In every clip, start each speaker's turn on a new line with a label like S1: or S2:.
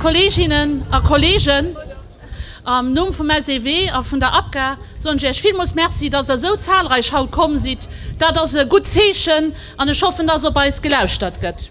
S1: Kolleeginnen a Kolleegen, am Numm vum SEW a vun der APGA soen ech Iech villmools Merci, dass Der esou zahlreich haut komm sidd. Dat ass e gutt Zeechen an ech hoffen, dass op eis gelauschtert gëtt.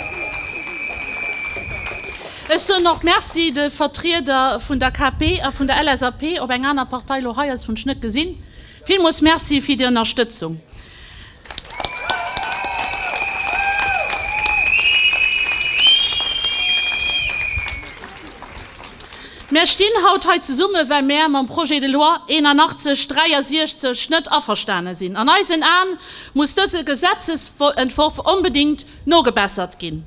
S1: Ech soen och Merci de Vertrieder vun der KP a vun der LSAP, ob eng aner Partei elo hei ass, hunn ech net gesinn. Villmools Merci fir déi Ënnerstëtzung. Mär stinn haut hei zesummen, well mär mam Projet de loi 8163 net averstane sinn. An eisen Aen muss dëse Gesetzesentworf onbedéngt Nogebessert ginn.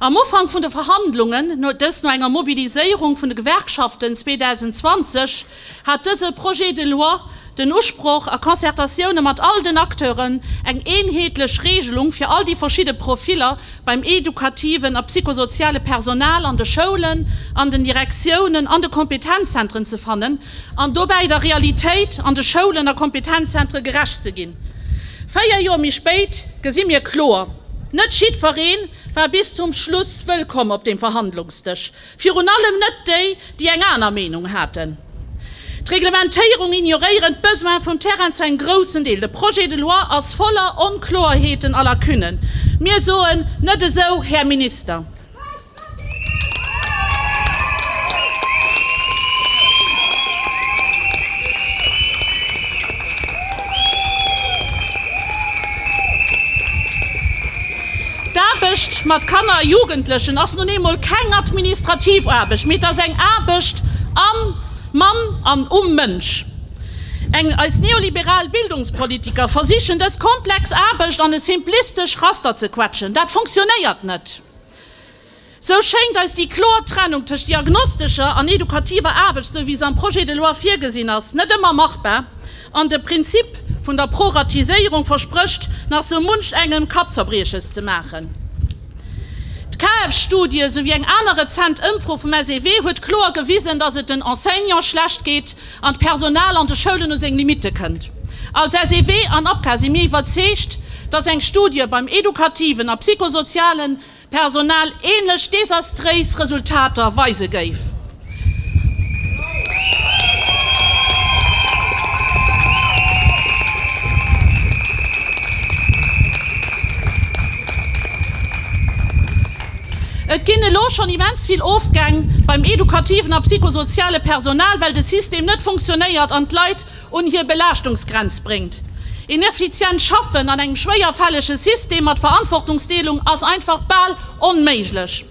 S1: Am Ufank vun de Verhandlungen, dës no enger Mobiliséierung vun de Gewerkschaften 2020, hat dëse Projet de loi den Usproch, a Concertatioune mat all den Acteuren, eng eenheetlech Reegelung fir all déi verschidde Profiller beim edukativen a psychosoziale Personal an de Schoulen, an den Direktiounen, an de Kompetenzzentren ze fannen, an dobäi der Realitéit an de Schoulen a Kompetenzzentre gerecht ze ginn. Véier Joer méi spéit gesi mir kloer, Net jiddweree war bis zum Schluss wëllkomm op deem Verhandlungsdësch, virun allem net déi, déi eng aner Meenung haten. D'Reglementéierung ignoréieren d'Besoine vum Terrain zu engem groussen Deel. De Projet de loi ass voller Onkloerheeten a Lacunnen. Mir soen, Net esou, Här Minister! D'Aarbecht mat Kanner a Jugendlechen ass nun eemol keng administrativ Aarbecht, mee et ass eng Aarbecht am Mann an um Mënsch. Eis neoliberal Bildungspolitiker versichen dës komplex Aarbecht an e simplistesch Raster ze quetschen. Dat funktionéiert net. Sou schéngt eis déi kloer Trennung tëscht diagnostescher an edukativer Aarbecht, sou wéi se am Projet de loi virgesinn ass, net ëmmer machbar an de Prinzip vun der Proratiséierung versprécht nach sou munch engem Kappzerbrieches ze maachen. D'KF-Studie esouwéi eng aner rezent Ëmfro vum SEW huet kloer gewisen, datt et den Enseignante schlecht geet, an d'Personal an de Schoulen u seng Limitte kënnt. Als SEW an APCA si mir iwwerzeegt, datt eng Studie beim edukativen a psychosoziale Personal änlech desastréis Resultater weise géif. Et ginn elo schonn immens vill Ofgäng beim edukativen a psychosoziale Personal, well de System net funktionéiert an d'Leit un hir Belaaschtungsgrenz bréngt. Een effizient Schaffen an engem schwéierfällege System mat Verantwortungsdeelung ass einfach bal onméiglech.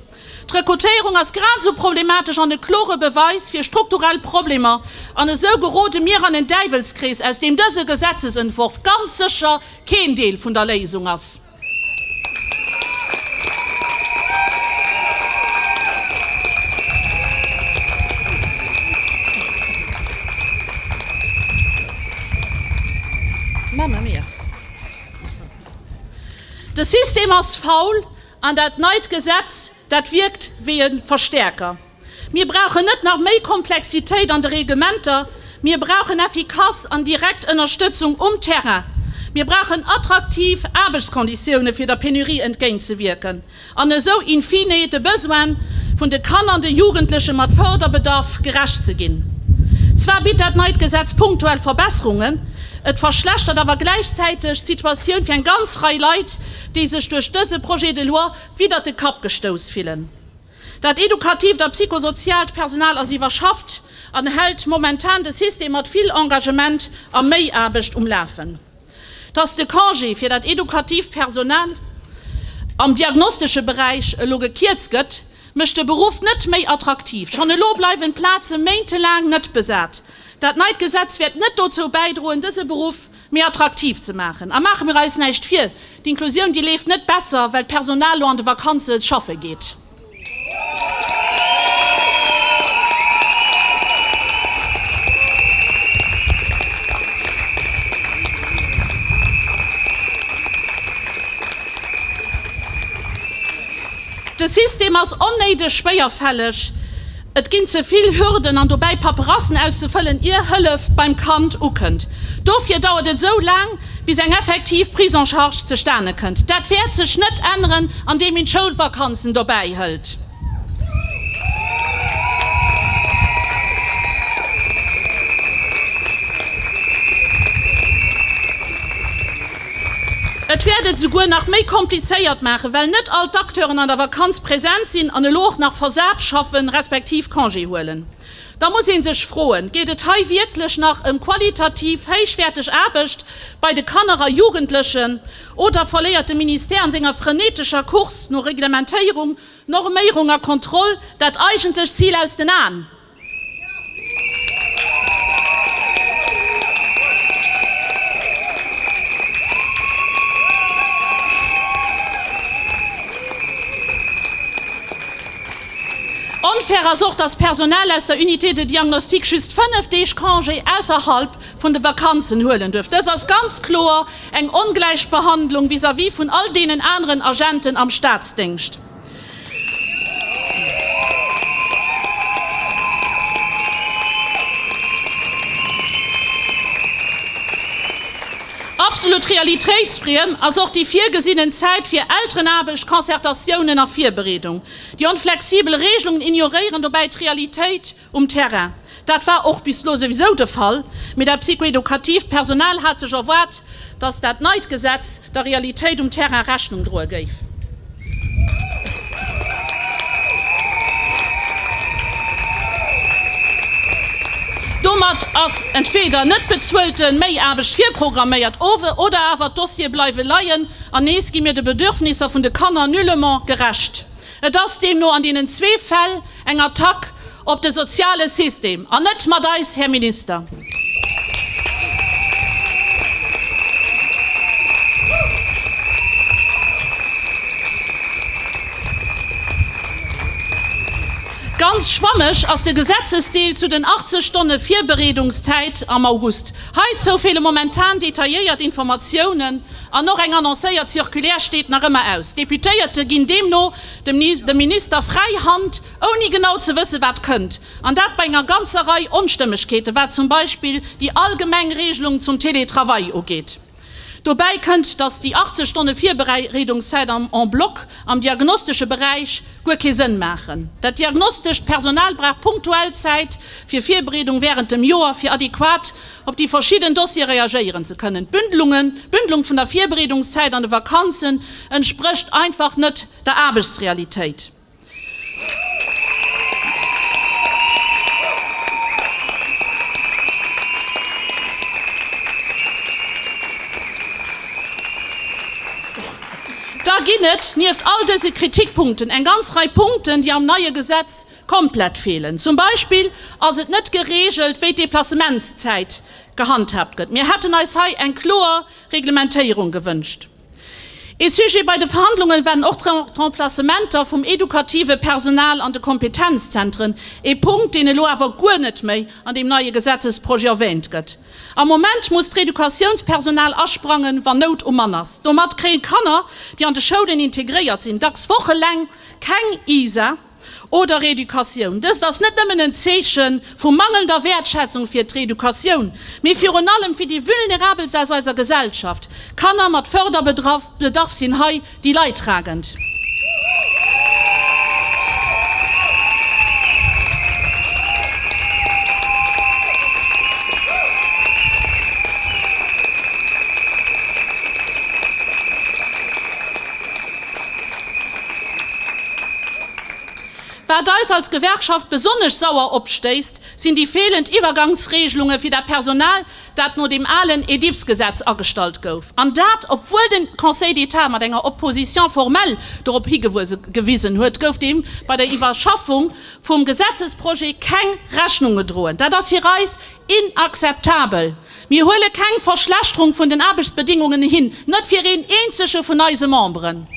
S1: D'Rekrutéierung ass grad esou problematesch an e klore Beweis fir strukturell Problemer. An esou gerode mir an en Däiwelskrees, aus deem dëse Gesetzesentworf ganz sécher keen Deel vun der Léisung ass. De System ass faul an dat neit Gesetz, dat wierkt wéi e Verstäerker. Mir brauchen net nach méi Komplexitéit an de Reglementer, mir brauchen effikass an direkt Ënnerstëtzung um Terrain. Mir brauchen attraktiv Aarbechtskonditioune fir der Penurie entgéint ze wierken an esou in fine de Besoine vun de Kanner an de Jugendleche mat Fërderbedarf gerecht ze ginn. Zwar bitt dat neit Gesetz punktuell Verbesserungen, et verschlechtert awer gläichzäiteg d'Situatioun fir eng ganz Rei Leit, déi sech duerch dëse Projet de loi widder de Kapp gestouss fillen. Dat edukatiivt a psychosoziaalt Personal ass iwwerschafft an hält momentan de System mat vill Engagement a Méiaarbecht um Lafen. Dass de Congé fir dat edukatiivt Personal am diagnostesche Beräich elo gekierzt gëtt, mécht de Beruff net méi attraktiv. Schonn elo bleiwen d'Plaze méintelaang net besat. Dat neit Gesetz wäert net dozou bäidroen, dëse Beruff méi attraktiv ze maachen. A maache mir eis näischt vir, d'Inklusioun déi leeft net besser, well d'Personal lo an de Vakanze schaffe geet. De System ass onnéideg schwéierfälleg. Et ginn ze vill Hürden an dobäi Paperassen auszefëllen, ier Hëllef beim Kand ukënnt. Dofir dauert et esou laang, bis eng effektiv Prise en charge zustane kënnt. Dat wäert sech net änneren, andeem een d'Schoulvakanzen dobäi hëlt. Et wäert et esouguer nach méi komplizéiert maachen, well net all d'Acteuren an der Vakanz präsent sinn an elo och nach versat schaffen, respektiv Congé huelen. Da muss ee sech froen, Geet et hei wierklech nach ëm qualitativ héichwäerteg Aarbecht bei de Kanner a Jugendlechen oder verléiert de Ministère an senger frenetescher Course no Reglementéierung, Norméierung a Kontroll dat eigentlecht Zil aus den Aen? Onfair ass och, dass d'Personal aus der Unité de diagnostic just 5 Deeg Congé ausserhalb vun de Vakanzen huelen duerf. Dës ass ganz kloer eng Ongläichbehandlung vis-à-vis vun all deenen aneren Agenten am Staatsdéngscht. Absolut realitéitsfriem ass och déi virgesinnen Zäit fir Elterenaarbecht, Concertatiounen a Virbereedung. Déi onflexibel Reegelungen ignoréieren dobäi d'Realitéit. Um Terrain, dat war och bis elo souwisou de Fall, mee dat psychoedukatiivt Personal hat sech erwaart, datt dat neit Gesetz der Realitéit um Terrain Rechnung droe géif. Domat ass entweeder net bezuelte Méiaarbecht virprogramméiert oder awer d'Dossiere bleiwe leien an nees gi mir de Bedürfnisser vun de Kanner nullement gerecht. Et ass deemno an deenen zwee Fäll, Eng Attack op de soziale System, an net mat eis, Här Minister! Ganz schwammeg ass de Gesetzesdeel zu den 80 Stonne Virbereedungszäit am August. Heizou feele momentan detailléiert Informatiounen an och eng annoncéiert Circulaire steet nach ëmmer aus. D'Deputéierte ginn deemno dem Minister fräi Hand, ouni genau ze wëssen, wat kënnt, an dat bei enger ganzer Rei Onstëmmegkeeten, wat zum Beispill déi allgemeng Regelung zum Télétravail ugeet. Dobäi kënnt, dass déi 80 Stonne Virbereedungszäit en bloc am diagnostesche Beräich guer kee Sënn maachen. Dat diagnostescht Personal brauch punktuell Zäit fir Virbereedung wärend dem Joer, fir adequat op déi verschidden Dossiere reagéieren ze kënnen. D'Bündelungen, d'Bündelung vun der Virbereedungszäit an de Vakanzen entsprécht einfach net der Aarbechtsrealitéit. Da ginn et, nieft all dëse Kritikpunkten, eng ganz Rei Punkten, déi am neie Gesetz Komplett feelen. Zum Beispill ass et net gereegelt, wéi d'Deplacementszäit gehandhaabt gëtt. Mir hätten eis hei eng kloer Reglementéierung gewënscht. Ee Sujet bei de Verhandlungen waren och d'Remplacementer vum edukative Personal an de Kompetenzzentren, ee Punkt, deen elo awer guer net méi an deem neie Gesetzesprojet erwähnt gëtt. Am Moment muss d'Reducatiounspersonal asprangen, wann Nout um Mann ass. Domat kréien Kanner, déi an de Schoulen integréiert sinn, dacks wocheleng keng ISA. oder Reeducatioun. Dëst ass net nëmmen en Zeeche vu mangelnder Wäertschätzung fir d'Reeducatioun, mee virun allem fir déi Vulnerabelst aus eiser Gesellschaft. Kanner mat Förderbedarf sinn hei déi Leidtragend. Wat eis als Gewerkschaft besonnesch sauer opstéisst, sinn déi feelend Iwwergangsregelunge fir dat Personal, dat no dem alen EDIFS-Gesetz agestallt gouf, an dat obwuel de Conseil d'État mat enger Opposition formelle dorop higewisen huet, gouf deem bei der Iwwerschaffung vum Gesetzesprojet keng Rechnung gedroen. Dat ass fir eis Inakzeptabel! Mir huele keng Verschlechterung vun den Aarbechtsbedingungen hin, net fir een eenzege vun eise Memberen!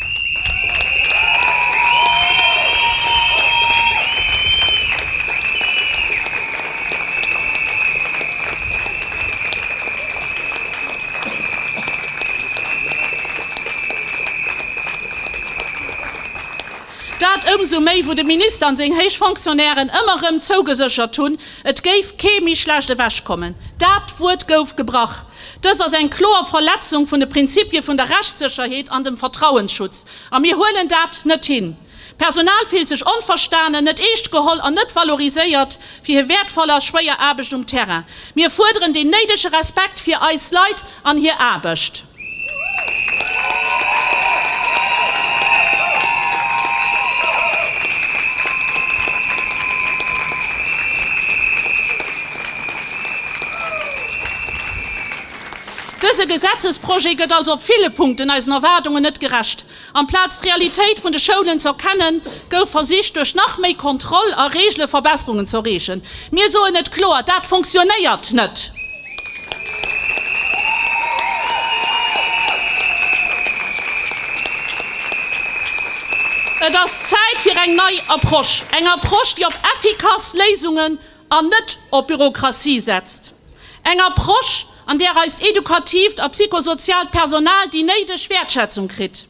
S1: Dat ëmsou méi, wou de Minister an seng héich Fonctionnairen ëmmer erëm zougeséchert hunn, Et géif kee méi schlecht ewechkommen, dat Wuert gouf gebrach. Dëst ass eng kloer Verletzung vun de Prinzippie vun der Rechtssécherheet an dem Vertrauensschutz, a mir huelen dat net hin. D'Personal fillt sech onverstanen, net eescht geholl an net valoriséiert fir hir wäertvoll a schwéier Aarbecht um Terrain. Mir fuerderen deen néidege Respekt fir eis Leit. An hir Aarbecht. Dëse Gesetzesprojet gëtt also op ville Punkten eisen Erwaardungen net gerecht. Amplaz d'Realitéit vun de Schoulen ze erkennen, gouf versicht duerch nach méi Kontroll a Reegele Verbesserungen ze erreechen. Mir soen et kloer, dat funktionéiert net! Et ass Zäit fir eng nei Approche, eng Approche déi op effikass Léisungen an net op Bürokratie setzt, eng Approche, an där eist edukatiivt a psychosoziaalt Personal déi néideg Wäertschätzung kritt,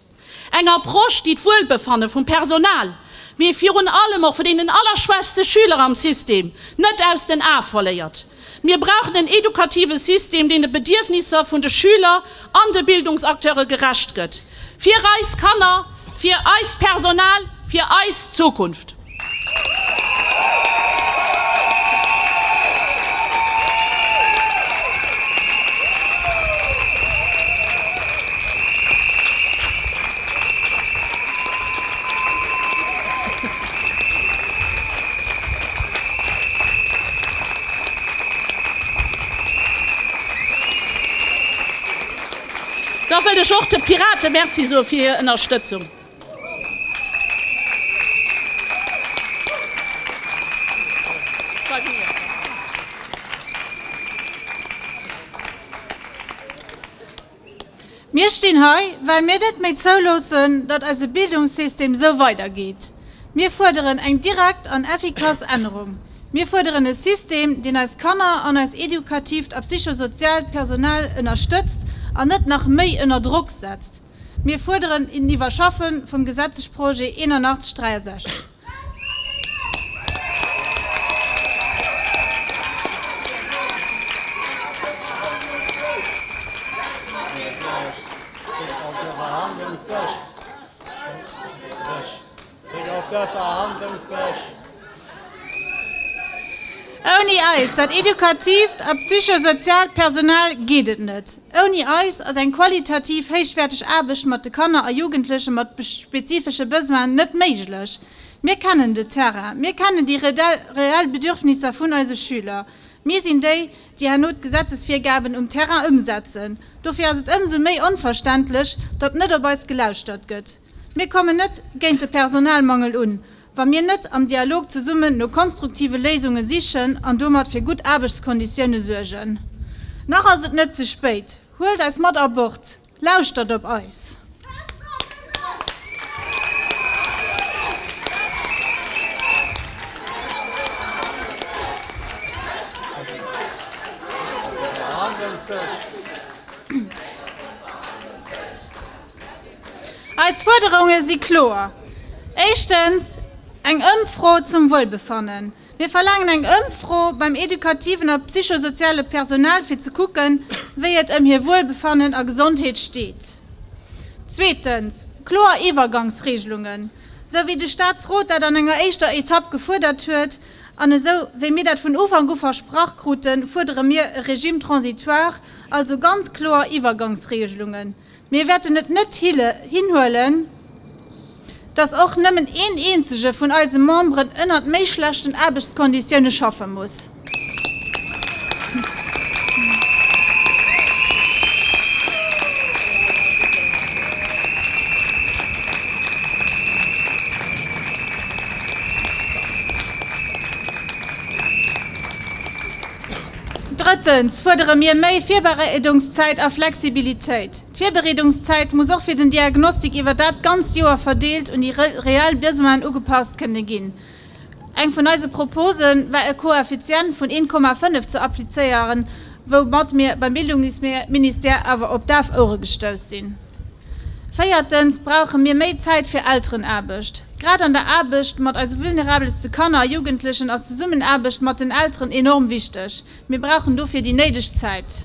S1: eng Approche, déi d'Wuelbefanne vum Personal, mee virun allem och vun deenen allerschwächste Schüler am System net aus den Ae verléiert. Mir brauchen en edukative System, deen de Bedierfnisser vun de Schüler an de Bildungsacteure gerecht gëtt, fir eis Kanner, fir eist Personal, fir eis Zukunft. Da wëll ech och de Pirate Merci soe fir hir Ënnerstëtzung.
S2: Mir stinn hei, well mir net méi zouloossen, datt eise Bildungssystem esou weidergeet. Mir fuerderen eng direkt an effikass Ännerung. Mir fuerderen e System, deen eis Kanner an eist edukatiivt a psychosoziaalt Personal ënnerstëtzt an net nach méi ënner Drock setzt. Mir fuerderen en Iwwerschaffe vum Gesetzesprojet 8163. Ouni eis, dat edukatiivt a psychosoziaalt Personal, geet et net. Ouni eis ass eng qualitativ héichwäerteg Aarbecht mat de Kanner a Jugendleche mat spezifesche Besoinen net méiglech. Mir kennen de Terrain, mir kennen déi reell Bedürfnisser vun eise Schüler. Mir sinn déi, déi herno d'Gesetzesvirgaben um Terrain ëmsetzen. Dofir ass et ëmsou méi onverständlech, datt net op eis gelauschtert gëtt. Mir kommen net géint de Personalmangel un, wa mir net am Dialog zesummen no konstruktive Léisunge sichen an domat fir gutt Aarbechtskonditioune suergen. Nach ass et net ze spéit. Huelt eis mat a Bord. Lauschtert op eis. Eis Fuerderunge si kloer, éischtens eng Ëmfro zum Wuelbefannen. Mir verlaangen eng Ëmfro beim edukativen a psychosoziale Personal, fir ze kucken, wéi et ëm hir Wuelbefannen a Gesondheet steet. Zweetens kloer Iwwergangsregelungen, esou wéi de Statsrot dat an enger éischter Etapp gefuerdert huet an esou wéi mir dat vun Ufank u versprach kruten, fuerdere mir e Régime transitoire, also ganz kloer Iwwergangsregelungen. Mir wäerten et net hinhuelen, dass och nëmmen een eenzege vun eise Memberen ënnert méi schlechten Aarbechtskonditioune schaffe muss. Drëttens fuerdere mir méi Virbereedungszäit a Flexibilitéit. D'Virbereedungszäit muss och fir den Diagnostik iwwer dat ganzt Joer verdeelt un déi reell Besoinen ugepasst kënne ginn. Eng vun eise Propose war e Koeffizient vun 1,5 ze applizéieren, woumat mir beim Bildungsministère awer op daf Ouere gestouss sinn. Véiertens brauche mir méi Zäit fir Elterenaarbecht. Grad an der Aarbecht mat eise vulnerabelste Kanner a Jugendlechen ass d'Zesummenaarbecht mat den Elteren enorm wichteg. Mir brauchen dofir déi néideg Zäit.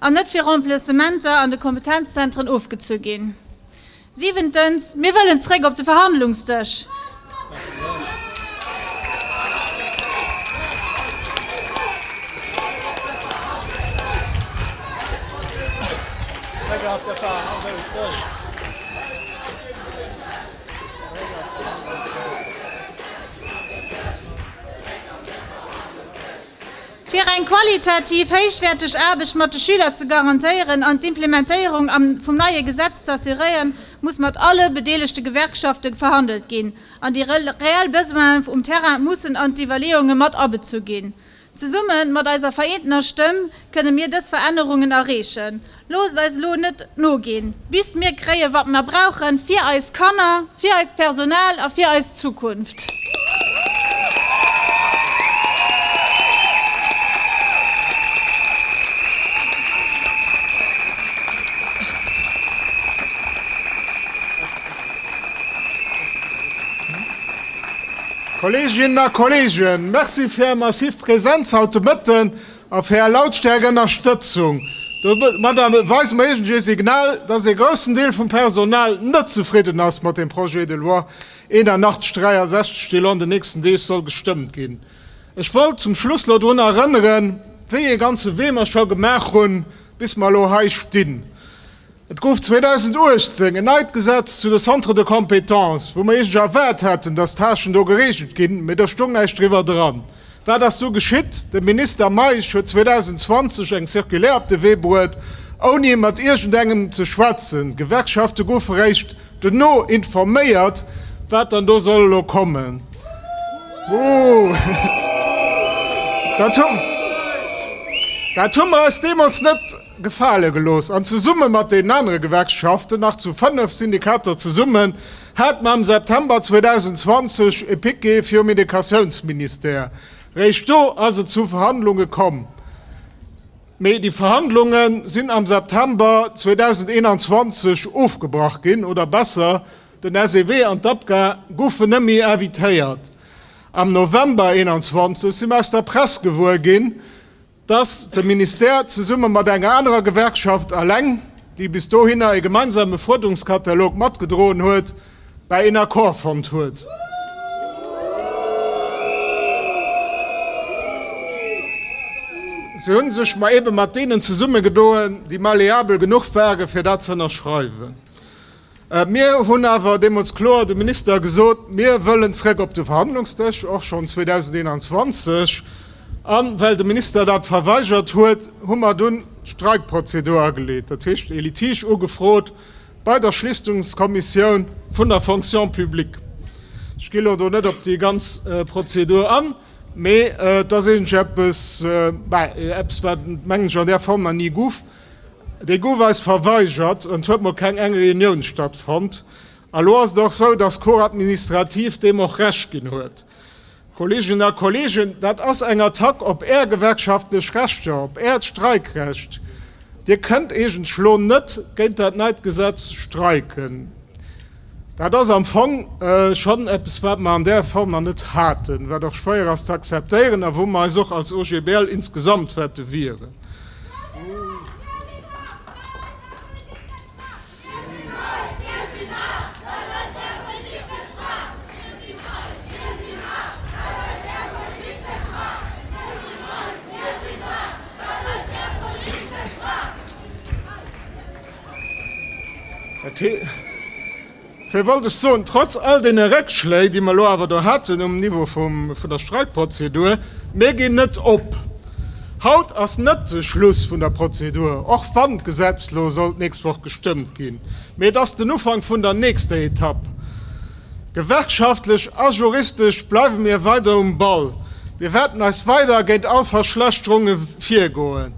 S2: An net fir Remplacementer an de Kompetenzzentren ofgezu ginn. Siwentens, mir wëllen zréck op de Verhandlungsdësch. Fir eng qualitativ héichwäerteg Aarbecht mat de Schüler ze garantéieren an d'Implementéierung vum neie Gesetz ze assuréieren, muss mat alle bedeelegte Gewerkschafte verhandelt ginn an déi reell Besoine um Terrain mussen an d'Iwwerleeunge mat abezu ginn. Zesumme mat eiser vereenter Stëmm kënne mir dës Verännerungen erreechen Loosst eis elo net noginn, bis mir kréien, wat mir brauchen, fir eis Kanner, fir eist Personal a fir eis Zukunft.
S3: Kolleeginnen a Kolleegen, merci fir Är massiv Präsenz haut de Mëtten. A fir Är Lautstäerkënnerstëtzung. Domadder weise mer iergendwéi e Signal, dass ee groussen Deel vum Personal net zefridden ass mat dem Projet de loi 8163, dee lo an den nächsten Deeg soll gestëmmt ginn. Ech wollt zum Schluss lo drun erënneren, wéi ee ganze Wee mer scho gemaach hunn, bis mer elo hei stinn. Et gouf 2018 en neit Gesetz zu de Centres de compétences, wou mer eigentlech erwaart haten, dass d'Tâchen do geregelt ginn, mee do stoung näischt driwwer dran. Wat ass du geschitt? De Minister Meisch huet 2020 eng Circulaire op de Wee bruet, ouni mat iergendengem ze schwätzen. D'Gewerkschafte goufe réischt dono informéiert, wat dann do soll elo kommen. Dat hu mer eis deemools net. gefale gelooss an zesumme mat deenen anere Gewerkschaften, nach zu fënnef Syndikater zesummen, hat mam September 2020 e Piquet virum Educatiounsministère. Réischt do ass et zu Verhandlunge komm, mee déi Verhandlunge sinn am September 2021 ofgebrach ginn, oder besser, den SEW an d'APGA goufen net méi invitéiert. Am November 2021 si mer aus der Press gewuer ginn, dass de Ministère zesumme mat enger anerer Gewerkschaft, Aleng, déi bis dohinner e gemeinsame Fuerderungskatalog matgedroen huet, bäi een Accord fonnt huet. Se hu sech ebe mat deenen zesummegedoen, déi malleabel genuch ware fir dat z'ënnerschreiwen. Mir hunn awer deemools kloer dem Minister gesot, mir wëllen zréck op de Verhandlungsdësch, och schonn 2021. A well de Minister dat verweigert huet, hu mer dunn d'Streikprozedur ageleet, dat heescht ee Litige ugefrot bei der Schlichtungskommissioun vun der Fonction publique. Ech gi elo do net op déi ganz Prozedur an, mee et ass eegentlech eppes, wat, mengen ech, an där Form nach ni gouf. Dee gouf eis verweigert an et huet mol keng eng Reunioun stattfonnt. A lo ass et och esou, dass d'Cour administrative deem och Recht ginn huet. Kolleeginnen a Kolleegen, dat ass eng Attack op Är gewerkschaftlech Rechter, op Äert Streikrecht. Dir kënnt eegentlech lo net géint dat neit Gesetz streiken. Dat ass am Fong schonn eppes, wat mer an där Form nach net haten, wat och schwéier ass ze akzeptéieren a wou mer eis och als OGBL insgesamt wäerte wieren. Dofir wollt ech soen, trotz all deene Réckschléi, déi mer elo awer do haten um Niveau vun der Streikprozedur, Mir ginn net op. Haut ass net de Schluss vun der Prozedur, och wann d'Gesetz elo soll d'nächst Woch gestëmmt ginn, mee et ass den Ufank vun der nächster Etapp. Gewerkschaftlech a juristesch bleiwe mir weider um Ball. Mir wäerten eis weider géint all Verschlechterunge virgoen.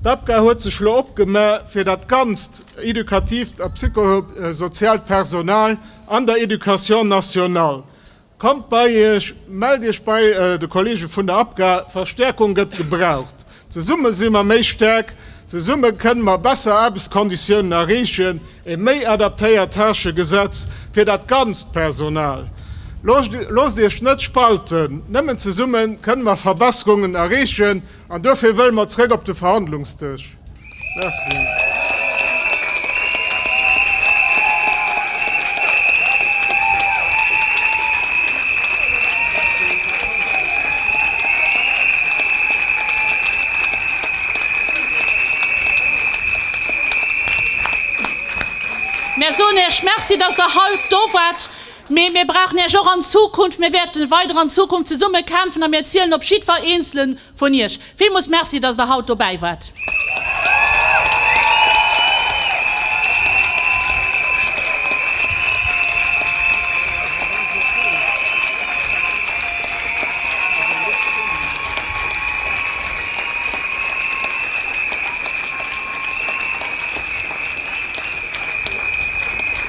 S3: D'APGA huet sech elo opgema fir dat ganzt educatiivt a psychosoziaalt Personal an der Education nationale. Kommt bei Iech, mellt Iech bei de Kollege vun der APGA, Verstäerkung gëtt gebraucht. Zesumme si mer méi staark, zesumme kënne mer besser Aarbechtskonditiounen erreechen, e méi adaptéiert Tâchegesetz fir dat ganzt Personal. Loosst Iech net spalten, nëmmen zesumme kënne mer Verbesserungen erreechen. An dofir wëlle mer zrëck op de Verhandlungsdësch. Merci.
S1: Mir soen Iech Merci, dass Der hei do waart. Mee mir brauchen Iech och an Zukunft. Mir wäerten weider an Zukunft zesumme kämpfen a mir zielen op jiddwer eenzelen vun Iech. Villmools Merci, dass Der haut dobäi waart.